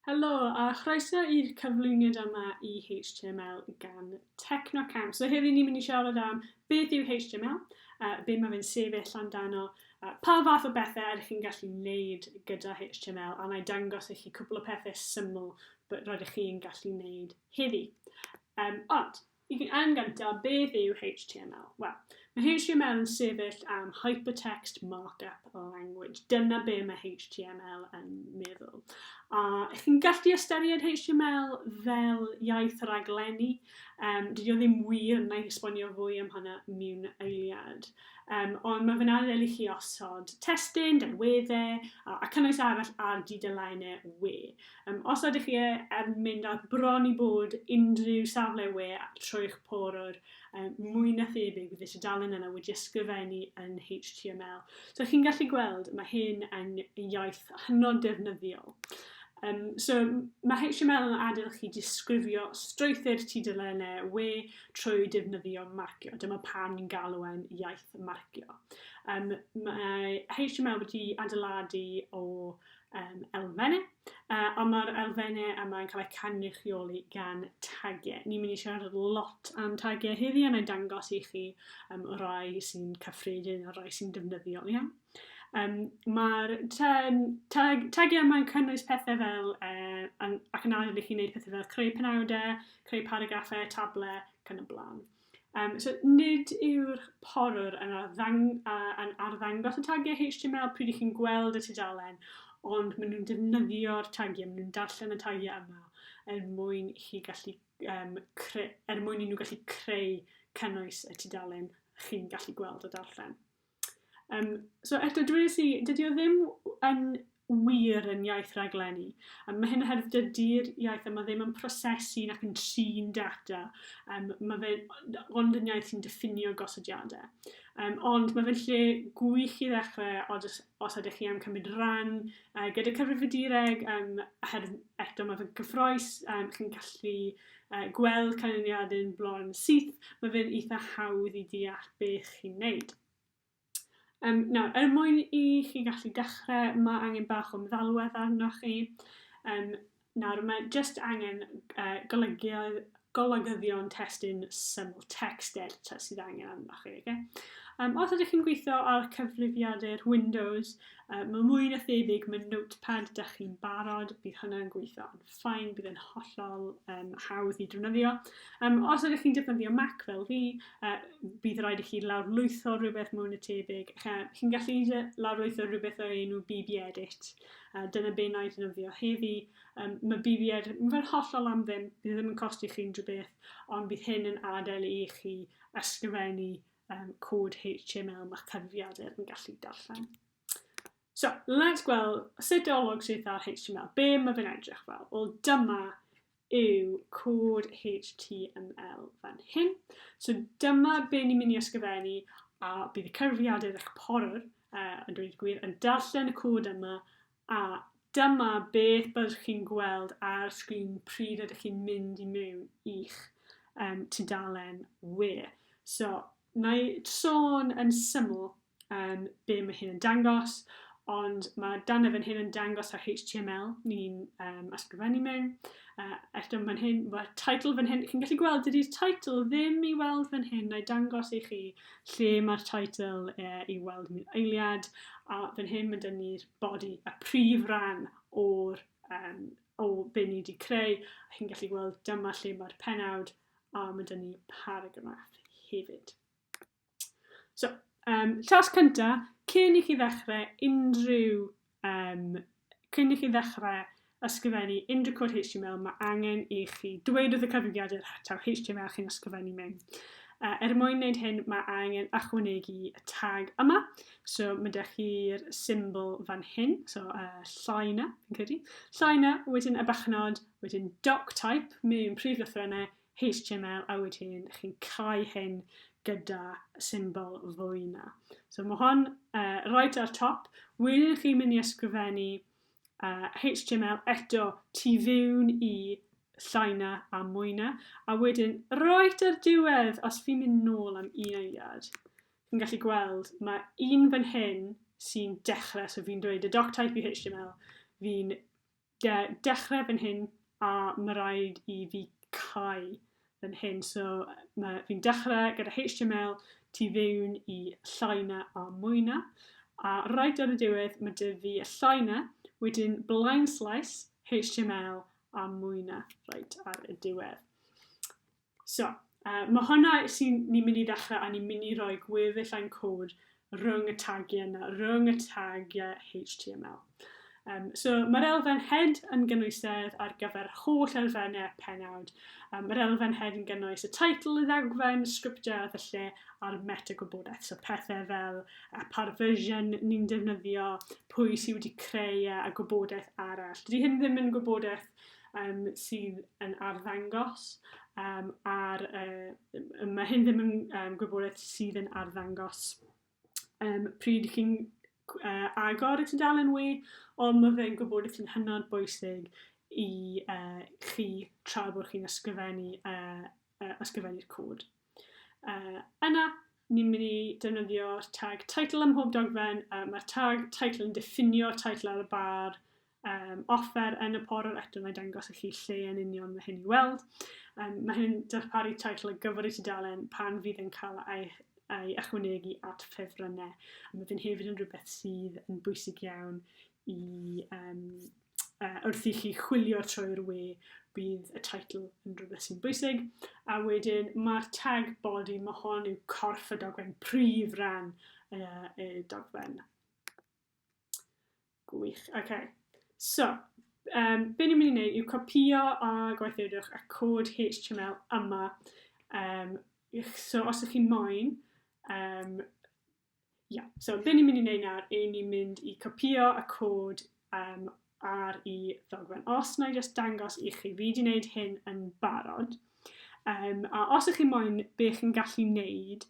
Helo, a chroeso i'r cyflwyniad yma i HTML gan Technocamp. So heddi ni'n mynd i siarad am beth yw HTML, uh, be mae fe'n sefyll amdano, uh, pa fath o bethau ydych chi'n gallu wneud gyda HTML, a mae'n dangos i chi cwpl o pethau syml bod rydych chi'n gallu wneud heddi. Um, ond, I fi yn gyntaf, beth yw HTML? Wel, mae HTML yn sefyll am Hypertext Markup Language. Dyna be mae HTML yn meddwl. A ych chi'n gallu ystyried HTML fel iaith raglenni? Um, dydy o ddim wir, na i esbonio fwy am hwnna mewn eiliad. Um, ond mae fe'n adael i chi osod testyn, delweddau a, a cynnwys arall ar dudalennau we. Yym, os ydych chi yn mynd ar bron i bod unrhyw safle we trwy'ch porwr, um, mwy na thebyg bydd y tudalen yna wedi ysgrifennu yn HTML. So chi'n gallu gweld, mae hyn yn iaith hynod defnyddiol. Um, so mae HTML yn adael chi disgrifio strwythyr tudalennau we trwy defnyddio marcio. Dyma pan ni'n galw e'n iaith marcio. Um, mae HTML wedi adeiladu o um, elfennau, uh, ond mae'r elfennau yma'n cael eu cynrychioli gan tagiau. Ni'n mynd i siarad lot am tagiau heddi, a na'i dangos i chi um, o rai sy'n cyffredin a rai sy'n defnyddiol iawn. Um, Mae'r tag, tagiau yma'n cynnwys pethau fel, uh, ac yn adael i chi wneud pethau fel creu penawdau, creu paragraffau, tablau, cyn y blaen. Um, so, nid yw'r porwr yn, arddang, uh, yn arddangos y tagiau HTML pryd ych chi'n gweld y tudalen, ond maen nhw'n defnyddio'r tagiau, maen nhw'n darllen y tagiau yma er mwyn i chi gallu um, cre, er mwyn i nhw gallu creu cynnwys y tudalen chi'n gallu gweld o darllen. Yym, so eto, dwi wedi, dydy o ddim yn wir yn iaith raglenni. Um, mae hyn oherwydd dydy'r iaith yma ddim yn prosesu nac yn trin data. Um, mae fe ond yn iaith sy'n diffinio gosodiadau. Um, ond mae fe'n lle gwych i ddechrau os, os ydych chi am cymryd rhan uh, gyda cyfrifiadureg, um, oherwydd eto mae fe'n gyffroes, um, chi'n gallu gweld canlyniadu'n bron syth, mae fe'n eitha hawdd i deall beth chi'n wneud. Um, nawr, er mwyn i chi gallu dechrau, mae angen bach o meddalwedd arnoch chi. Um, nawr, mae jyst angen uh, golygio, golygyddion testyn syml text editor sydd angen arnoch chi. Okay? Um, os ydych chi'n gweithio ar cyfrifiadur Windows, um, mae mwy na thebyg mae Notepad da chi'n barod, bydd hwnna'n gweithio'n fine, bydd yn hollol um, hawdd i drwnyddio. Um, os ydych chi'n defnyddio Mac fel fi, uh, bydd rhaid i chi lawrlwytho rhywbeth mwyn y tebyg. Chi'n gallu lawrlwytho rhywbeth o'r enw BB Edit. Uh, dyna be na i ddefnyddio heddi. Um, mae BB Edit yn fel hollol am ddim, bydd e ddim yn costi chi unrhyw beth, ond bydd hyn yn adael i chi ysgrifennu um, cod HTML mae cyfrifiadur yn gallu darllen. So, let's gweld sut olwg sydd ar HTML. Be mae fe'n edrych fel? Wel, dyma yw cod HTML fan hyn. So dyma be ni'n mynd i ysgrifennu a bydd y cyfrifiadur eich porwr uh, yn dweud gwir yn darllen y cod yma a dyma beth byddwch chi'n gweld ar sgrin pryd ydych chi'n mynd i mewn i'ch um, tudalen we. So, na i sôn yn syml um, be mae hyn yn dangos, ond mae dan y fan hyn yn dangos ar HTML ni'n um, ysgrifennu mewn. Uh, eto fan hyn, mae title fan hyn, chi'n gallu gweld dydy'r title ddim i weld fan hyn, na'i dangos i chi lle mae'r title uh, i weld yn eiliad, a fan hyn mae dyn ni'r body, y prif ran o'r um, o be ni wedi creu, a chi'n gallu gweld dyma lle mae'r penawd, a mae dyn ni paragraff hefyd. So, um, llas cynta, cyn i chi ddechrau unrhyw, um, cyn i chi ddechrau ysgrifennu unrhyw cod HTML, mae angen i chi dweud wrth y cyfrifiadur taw HTML chi'n ysgrifennu mewn. Uh, er mwyn wneud hyn, mae angen ychwanegu y tag yma. So, mae ydych chi'r symbol fan hyn, so uh, llai na, fi'n credu. Llai na, wedyn y bachnod, wedyn doc type, mewn prif lythrennau, html a wedyn chi'n cau hyn gyda symbol fwy na. So mae hon uh, right ar top. Wedyn chi'n mynd i ysgrifennu uh, HTML eto tu fewn i llaina a mwyna. A wedyn, right ar diwedd, os fi'n mynd nôl am un eiliad, fi'n gallu gweld mae un fan hyn sy'n dechrau, so fi'n dweud y doc type i HTML, fi'n Ie, dechrau fan hyn a mae rhaid i fi cau fan hyn. So mae fi'n dechrau gyda HTML tu fewn i llai na a mwy na. A rhaid ar y diwedd mae dy fi y llai na, wedyn blind slice, HTML a mwy na, rhaid ar y diwedd. So, uh, mae hwnna sy'n ni'n mynd i ddechrau a ni'n mynd i roi gweddill ein cod rhwng y tagiau yna, rhwng y tagiau HTML. Um, so mae'r elfen head yn gynwysedd ar gyfer holl elfennau penawd. Um, mae'r elfen head yn gynnwys y title, y ddagfen, y sgriptiau a felly a'r meta gwybodaeth. So pethau fel a par version ni'n defnyddio, pwy sydd wedi creu e, a gwybodaeth arall. Dydy hyn ddim yn gwybodaeth um, sydd yn arddangos um, ar, uh, mae hyn ddim yn um, gwybodaeth sydd yn arddangos um, pryd chi'n uh, agor y tudalen we, ond mae fe'n gwybodaeth sy'n hynod bwysig i uh, chi tra bod chi'n ysgrifennu uh, uh, ysgrifennu'r cod. Uh, yna, ni'n mynd i defnyddio'r tag title ym mhob dogfen. Uh, Mae'r tag title yn diffinio title ar y bar um, offer yn y porwr eto mae dangos i chi lle yn union mae hyn i weld. Um, mae hyn yn darparu title y gyfer i tudalen pan fydd yn cael ei a'i ychwanegu at ffefrynnau. A mae fe'n hefyd yn rhywbeth sydd yn bwysig iawn i um, uh, wrth i chi chwilio trwy'r we, bydd y title yn rhywbeth sy'n bwysig. A wedyn mae'r tag body, mae hon yw corff y dogfen, prif ran uh, y dogfen. Gwych, oce. Okay. So, um, be ni'n mynd i wneud yw copio a gweithiwydwch y cod HTML yma. Um, so, os ydych chi'n moyn um, Ia, so be ni'n mynd i wneud nawr, yw ni'n mynd i copio y cod um, ar i ddogfen. Os na i just dangos i chi, fi wedi wneud hyn yn barod. Um, a os ych chi moyn, be chi'n gallu wneud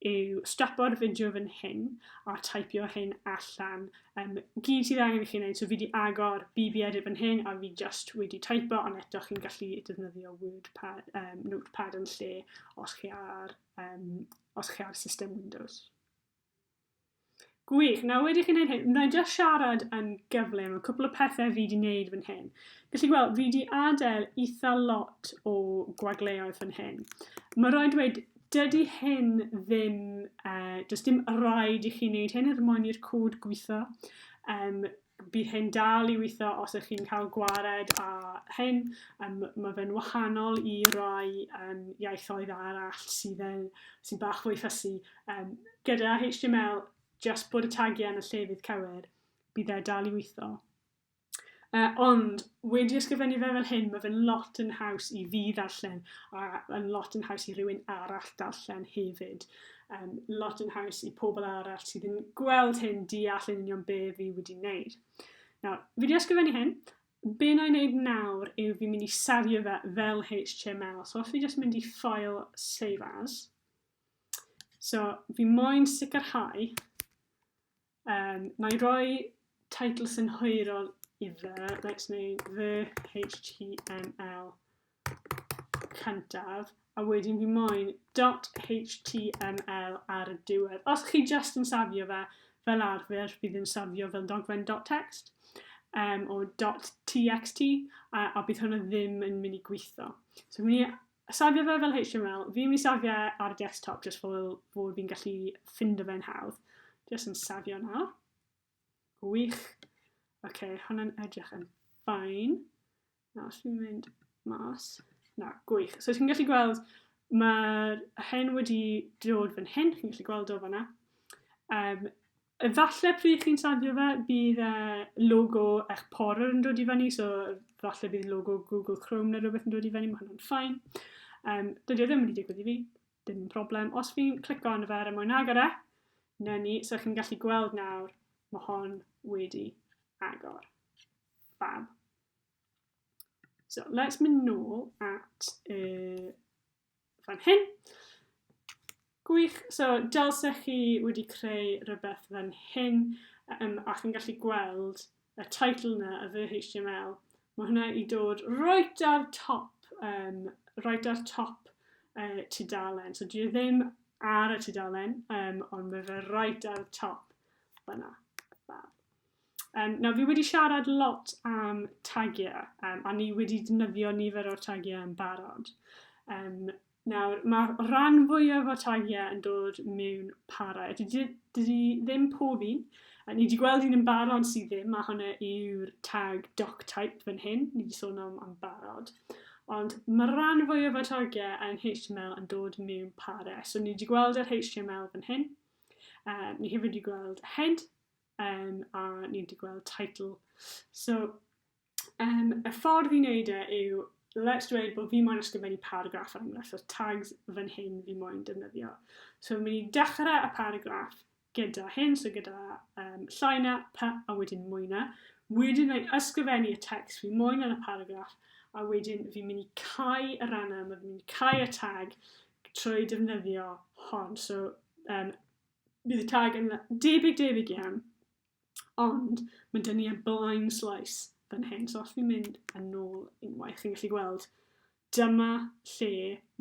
yw strapo'r fideo fan hyn a typio hyn allan. Um, gyd sydd angen i chi wneud, so fi wedi agor BB edit fan hyn a fi just wedi typo, ond eto chi'n gallu defnyddio WordPad, um, Notepad yn lle os chi ar um, os chi ar system Windows. Gwych, nawr wedi chi'n gwneud hyn, wna'n just siarad yn gyflym o cwpl o pethau fi wedi gwneud fan hyn. Felly chi weld, fi wedi adael eitha lot o gwagleoedd fan hyn. Mae rhaid dweud, dydy hyn ddim, uh, does dim rhaid i chi wneud hyn, er mwyn i'r cwd gweithio. Um, Bydd hyn dal i weithio os ych chi'n cael gwared â hyn. Um, mae fe'n wahanol i rai um, iaithoedd arall sydd yn, sy'n bach fwy ffysu. Um, gyda HTML, just bod y tagiau yn y llefydd cywir, bydd e dal i weithio. Uh, ond wedi ysgrifennu fe fel hyn, mae fe'n lot yn haws i fi ddarllen a yn lot yn haws i rywun arall darllen hefyd. um, lot yn haws i pobl arall sydd yn gweld hyn deall yn union be fi wedi wneud. Nawr, fi wedi ysgrifennu hyn, be na i wneud nawr yw fi'n mynd i safio fe fel HTML. So os fi jyst mynd i ffael save as, so fi moyn sicrhau Yym, na i roi teitl synhwyrol i fe. Let's neu the HTML cyntaf. A wedyn fi moyn .html ar y diwedd. Os chi just yn safio fe fel arfer, fi ddim safio fel dogfen .text um, o .txt a, a bydd hwnna ddim yn mynd i gweithio. So fi'n mynd i Safio fe fel HTML. Fi'n mynd i safio e ar y desktop jyst fel fod fi'n gallu ffindo fe'n hawdd. Jyst yn safio nawr. Wych. Oce, okay, hwnna'n edrych yn ffain. Nawr, os fi'n mynd mas. Na, gwych. So, chi'n gallu gweld, mae'r hen wedi dod fan hyn. Chi'n gallu gweld o fanna. Um, Efalle pryd chi'n safio fe bydd e logo eich porer yn dod i fyny so falle bydd logo Google Chrome neu rhywbeth yn dod i fyny, mae hwnna'n ffain. Um, dydy o ddim wedi digwydd i fi, dim problem. Os fi'n clico arno fe ar y mwyn agor e, na ni, so chi'n gallu gweld nawr, mae hon wedi agor. Fab. So, let's mynd nôl at y fan hyn. Gwych, so dylsech chi wedi creu rhywbeth fan hyn um, ac yn gallu gweld y title na, y fy HTML. Mae hwnna i dod right ar top, um, right ar top uh, tudalen. So dwi e ddim ar y tudalen, um, ond mae fe right ar top fyna. Um, nawr, fi wedi siarad lot am tagiau, um, a ni wedi defnyddio nifer o'r tagiau yn barod. Um, nawr, mae rhan fwyaf o'r tagiau yn dod mewn para. Dydy, dydy ddim pob un. A ni wedi gweld un yn barod sydd ddim, a hwnna yw'r tag doc type fan hyn. Ni wedi sôn am, am barod. Ond mae rhan fwyaf o'r tagiau yn HTML yn dod mewn para. So ni wedi gweld yr HTML fan hyn. Uh, ni hefyd wedi gweld head, um, a ni wedi gweld title. So, um, y ffordd i wneud e yw, let's dweud bod fi moyn ysgrifennu paragraff ar enghraifft, so tags fan hyn fi moyn defnyddio. So, mynd i dechrau y paragraff gyda hyn, so gyda um, llaina, pa, a wedyn mwyna. Wedyn rhaid ysgrifennu y text fi moyn yn y paragraff, a wedyn fi'n mynd i cael y rannau, mae fi'n mynd i cael y tag trwy defnyddio hon. So, um, bydd y tag yn debyg debyg iawn. Ond mae dyn ni yn blaen slais fan hyn. So os ni'n mynd yn ôl unwaith, chi'n gallu gweld dyma lle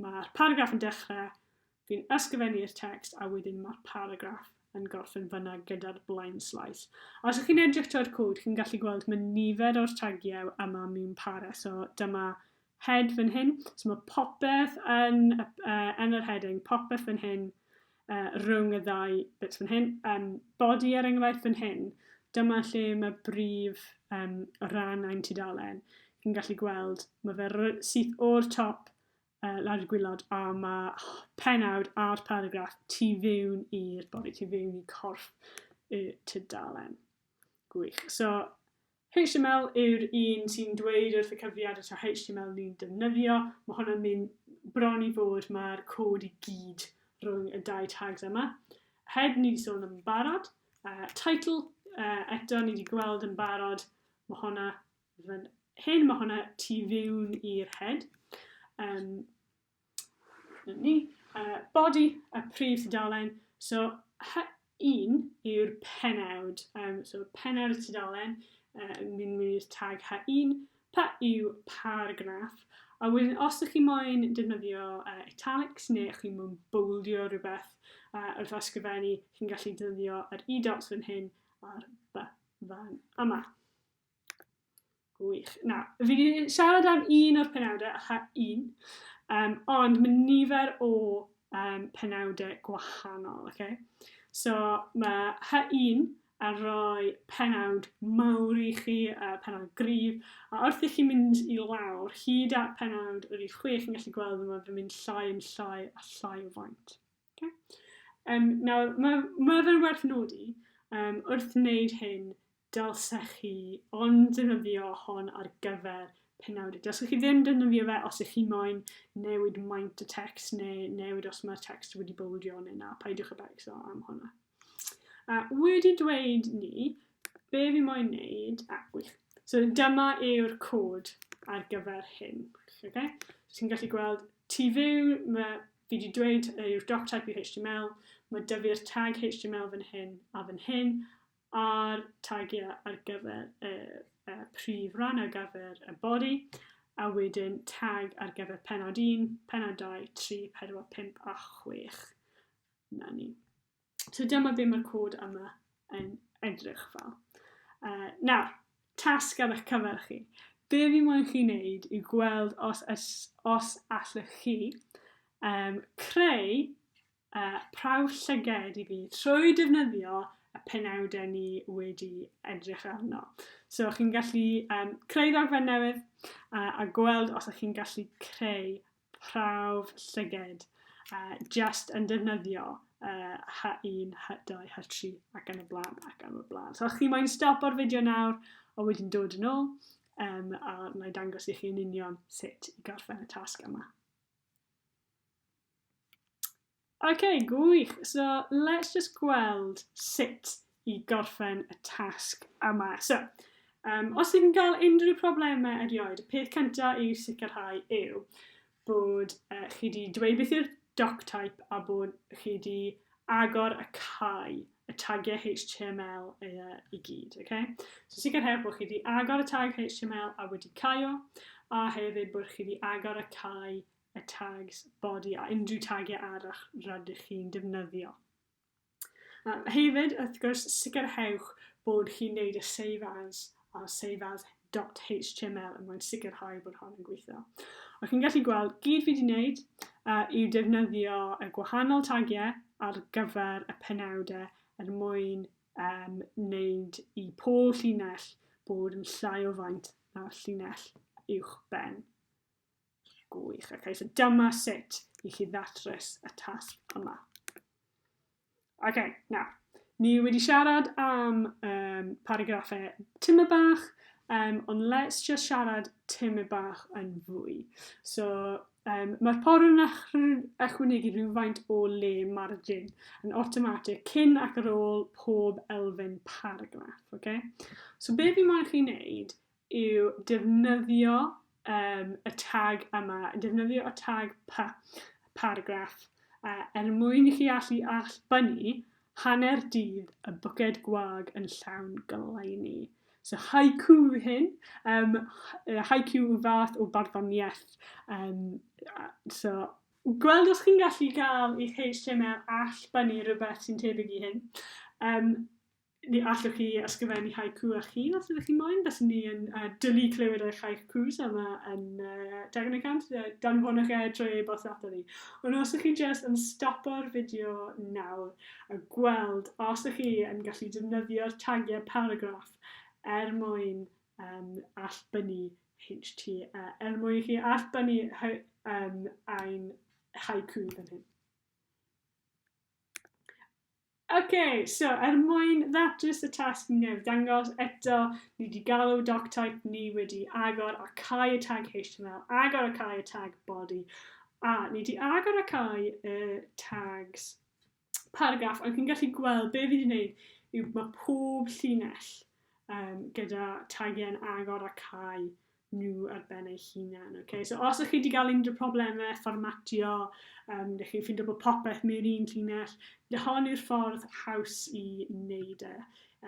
mae'r paragraff yn dechrau, fi'n ysgrifennu'r text a wedyn mae'r paragraff yn gorffen fyna gyda'r blaen slais. A os ydych chi'n edrych trwy'r cwd, chi'n gallu gweld mae nifer o'r tagiau yma mewn para. So dyma head fan hyn. So mae popeth yn, uh, yn yr heading, popeth fan hyn, uh, rhwng y ddau bits fan hyn. Um, body er enghraifft fan hyn, dyma lle mae brif um, rhan ein tudalen. Chi'n gallu gweld, mae fe syth o'r top uh, lawr y gwylod a mae penawd a'r paragraff tu fewn i'r body, tu fewn i corff y tudalen. Gwych. So, HTML yw'r un sy'n dweud wrth y cyfrifiad os yw HTML ni'n defnyddio, mae hwn yn mynd bron i fod mae'r cod i gyd rhwng y dau tags yma. Head ni wedi sôn yn barod, uh, title uh, eto ni wedi gweld yn barod, mae hwnna fan hyn, mae hwnna tu fiwn i'r head. Um, Dyna ni. Uh, body, y prif tudalen. So, H1 yw'r penawd. Um, so, penawd y tudalen, uh, yn mynd i'r tag H1. Pa yw paragraff? A wedyn, os ydych chi moyn defnyddio uh, italics neu ydych chi'n mwyn bwldio rhywbeth uh, wrth ysgrifennu, chi'n gallu defnyddio yr e-dots fan hyn a'r by fan yma. Gwych. Na, fi wedi siarad am un o'r penawdau, aha, un. Um, ond mae nifer o um, penawdau gwahanol, okay? So mae ha un a rhoi penawd mawr i chi, uh, penawd gryf, a wrth i chi mynd i lawr, hyd at penawd yr i chwi, chi'n gallu gweld yma fy mynd llai yn llai a llai o faint. Okay. Um, nawr, mae, mae fe'n werth nodi, um, wrth wneud hyn, dylsech chi ond defnyddio hon ar gyfer penawdau. Dylsech chi ddim defnyddio fe os ych chi moyn newid maint y text neu newid os mae'r text wedi bywdio neu na, paidiwch y becso am hwnna. A wedi dweud ni, be fi moyn wneud, a wych. So dyma yw'r cod ar gyfer hyn. Okay? So ti'n gallu gweld tu fyw, mae fi wedi dweud yw'r doc type i HTML, mae dy fi'r tag HTML fan hyn a fan hyn, a'r tagiau ar gyfer y, y prif ran ar gyfer y body, a wedyn tag ar gyfer penod 1, penod 2, 3, 4, 5 a 6. Na ni. So dyma be mae'r cod yma yn edrych fel. Uh, nawr, tasg ar eich cyfer chi. Be fi moyn chi wneud yw gweld os, os, os allwch chi um, creu uh, prawf llyged i fi trwy defnyddio y penawdau ni wedi edrych arno. So chi'n gallu um, creu ddogfen newydd uh, a gweld os ydych chi'n gallu creu prawf llyged a just yn defnyddio uh, H1, H2, H3 ac yn y blaen ac yn y blaen. So chi mae'n stop o'r fideo nawr a wedyn dod yn ôl um, a na i dangos i chi yn union sut i gorffen y tasg yma. Ok, gwych! So, let's just gweld sut i gorffen y tasg yma. So, um, os ydych chi'n cael unrhyw problemau erioed, y peth cyntaf i'w sicrhau yw bod uh, chi wedi dweud beth yw'r doc type a bod chi wedi agor y cae y tagiau HTML uh, i gyd. Okay? So sicrhau bod chi wedi agor y tag HTML a wedi caio, a hefyd bod chi wedi agor y cae y tags body a unrhyw tagiau arall rydych chi'n defnyddio. A hefyd, wrth gwrs, sicrhewch bod chi'n gwneud y save as a save as .html yn mwyn sicrhau bod hon yn gweithio. Ac chi'n gallu gweld, gyd fi wedi wneud uh, yw defnyddio y gwahanol tagiau ar gyfer y penawdau er mwyn um, wneud i pob llinell bod yn llai o faint na'r llinell uwch ben. Gwych, ac eisiau dyma sut i chi ddatrys y tasg yma. Oce, okay, na. Ni wedi siarad am um, paragraffau tym y bach, um, ond let's just siarad tym y bach yn fwy. So, um, mae'r porw'n ychwanegu rhywfaint o le margin yn automatic cyn ac ar ôl pob elfen paragraff. Okay? So, be fi moyn chi wneud yw defnyddio um, y tag yma, defnyddio y tag pa, paragraff, uh, er mwyn i chi allu allbynnu hanner dydd y bwced gwag yn llawn goleini. So haiku hyn, um, haiku yw fath o barddoniaeth. Um, so, gweld os chi'n gallu gael eich HTML all bynnu rhywbeth sy'n tebyg i hyn. Um, Neu allwch chi ysgrifennu haiku eich hun os ydych chi'n moyn. Byswn ni yn uh, dwlu clywed eich haikus yma yn uh, Dagen y Cant. Uh, danfonwch e trwy e-bost ato ni. Ond os ydych chi'n just yn stopo'r fideo nawr a gweld os ydych chi yn gallu defnyddio'r tagiau paragraff er mwyn um, allbynnu HT, uh, er mwyn chi allbynnu um, ein haiku fan hyn. Ok, so er mwyn ddatrys y tasg ni newydd dangos, eto, ni wedi galw doctype ni wedi agor a cau y tag HTML, agor a cau y tag body, a ni wedi agor a cau y tags paragraff, ond chi'n gallu gweld be fi wedi gwneud yw mae pob llinell um, gyda tagiau'n agor a cau nhw ar ben eu hunain. Okay? So os ydych chi wedi cael unrhyw problemau fformatio, um, ydych chi'n ffindo bod popeth mewn un llinell, hon yw'r ffordd haws i wneud e,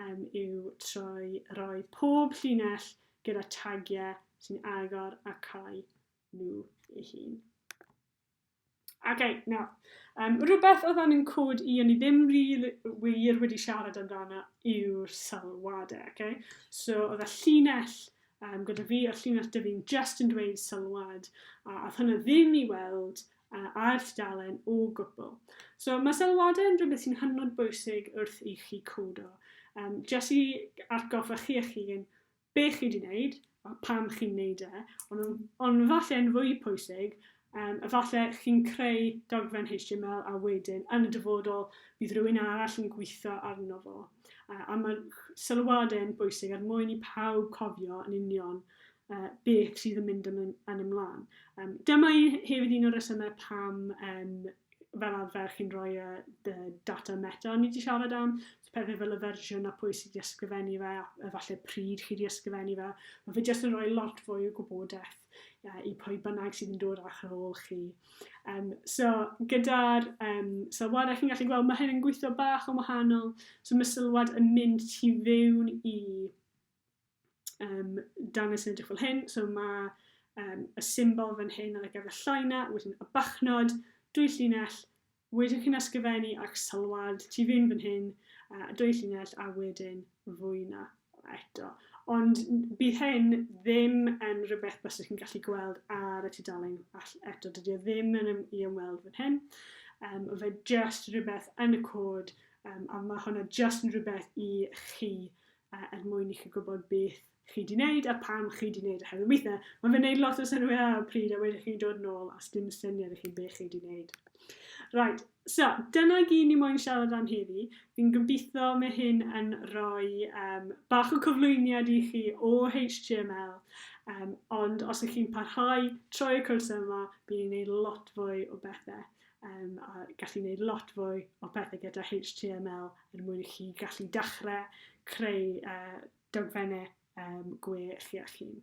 um, yw trwy roi pob llinell gyda tagiau sy'n agor a cau nhw ei hun. Ok, nawr. Um, rhywbeth oedd yn cod i o'n i ddim ril wir wedi siarad amdano yw'r sylwadau, okay? So, oedd y llinell um, gyda fi, o'r llinell dy fi'n just yn dweud sylwad, a oedd hwnna ddim i weld uh, ar dalen o gwbl. So, mae sylwadau yn rhywbeth sy'n hynod bwysig wrth i chi codo. Um, just i atgoffa chi eich hun, be chi 'di neud a pam chi'n neud e, on' yn, on' falle yn fwy pwysig, um, efalle chi'n creu dogfen HTML a wedyn yn y dyfodol bydd rhywun arall yn gweithio arno fo. Uh, a mae sylwadau yn bwysig er mwyn i pawb cofio yn union uh, beth sydd yn mynd yn, yn ymlaen. Um, dyma i hefyd un o'r resymau pam um, fel arfer chi'n rhoi y, y data meta o'n i wedi siarad am. pethau fel y fersiwn a pwy sydd wedi ysgrifennu fe a efallai pryd chi wedi ysgrifennu fe. Mae fe jyst yn rhoi lot fwy o gwybodaeth uh, i pwy bynnag sydd yn dod ar eich ôl chi. Um, so, gyda'r um, sylwadau chi'n gallu gweld, mae hyn yn gweithio bach yn wahanol. So, mae sylwad yn mynd tu fewn i um, dangos yn edrych fel hyn. So mae um, y symbol fan hyn ar y gyfer llaina, wedyn y bachnod, dwy llinell, wedyn chi'n ysgrifennu ac sylwad tu fynd fan hyn, uh, dwy llinell a wedyn fwyna eto. Ond bydd hyn ddim yn rhywbeth bys chi'n gallu gweld ar y tudalen eto. Dydy o e ddim yn ym, i ymweld fan hyn. Um, fe just rhywbeth yn y cod um, a mae hwnna just yn rhywbeth i chi uh, er mwyn i chi gwybod beth chi di wneud a pam chi di wneud oherwydd weithiau mae fe'n neud lot o synwyr ar y pryd a wedyn chi'n dod nôl a sdim syniad i chi beth chi di wneud. Right, so dyna gyd ni moyn siarad am heddi. Fi'n gobeithio mae hyn yn rhoi um, bach o cyflwyniad i chi o HTML um, ond os ych chi'n parhau troi y cwrs yma bydd ni'n neud lot fwy o bethau. Um, a gallu gwneud lot fwy o pethau gyda HTML er mwyn i chi gallu dechrau creu uh, dogfennau um, gwe chi eich hun.